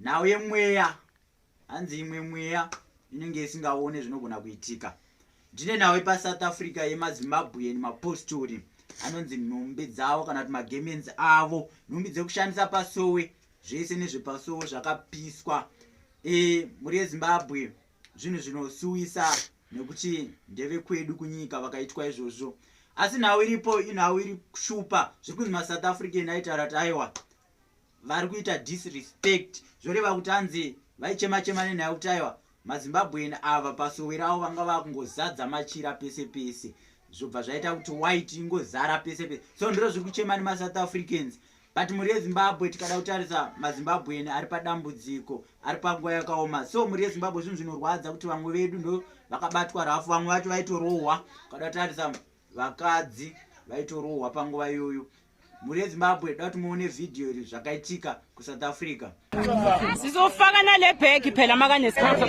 nhau yemweya hanzi imwe mweya inenge isingaone zvinogona kuitika ndine nhau epasouth africa yemazimbabwean mapostori anonzi nhumbi dzavo kana kuti magamens avo nhumbi dzekushandisa pasowe zvese nezvepasowe zvakapiswa e, mhuri yezimbabwe zvinhu zvinosuwisa nekuti ndeve kwedu kunyika vakaitwa izvozvo asi nhau iripo inhau iri kushupa zviri kunzi masouth african aitaura kuti aiwa vari kuita disrespect zvoreva kuti anzi vaichema chema nenyaya yekuti aiwa mazimbabwean ava pasowero avo vanga vakungozadza machira pese pese zvobva zvaita kuti white ingozara pese pese so ndiro zviri kuchema nemasouth africans but mhuri yezimbabwe tikada kutarisa mazimbabwean ari padambudziko ari panguva yakaoma so mhuri yezimbabwe zvinhu zvinorwadza kuti vamwe vedu ndo vakabatwa rafu vamwe vacho vaitorohwa ukada kutarisa vakadzi vaitorohwa panguva iyoyo mhuri yezimbabwe dati muone vhidhiyo iri zvakaitika kusouth africa sizofaka nale bhegi phela makaneskipurapura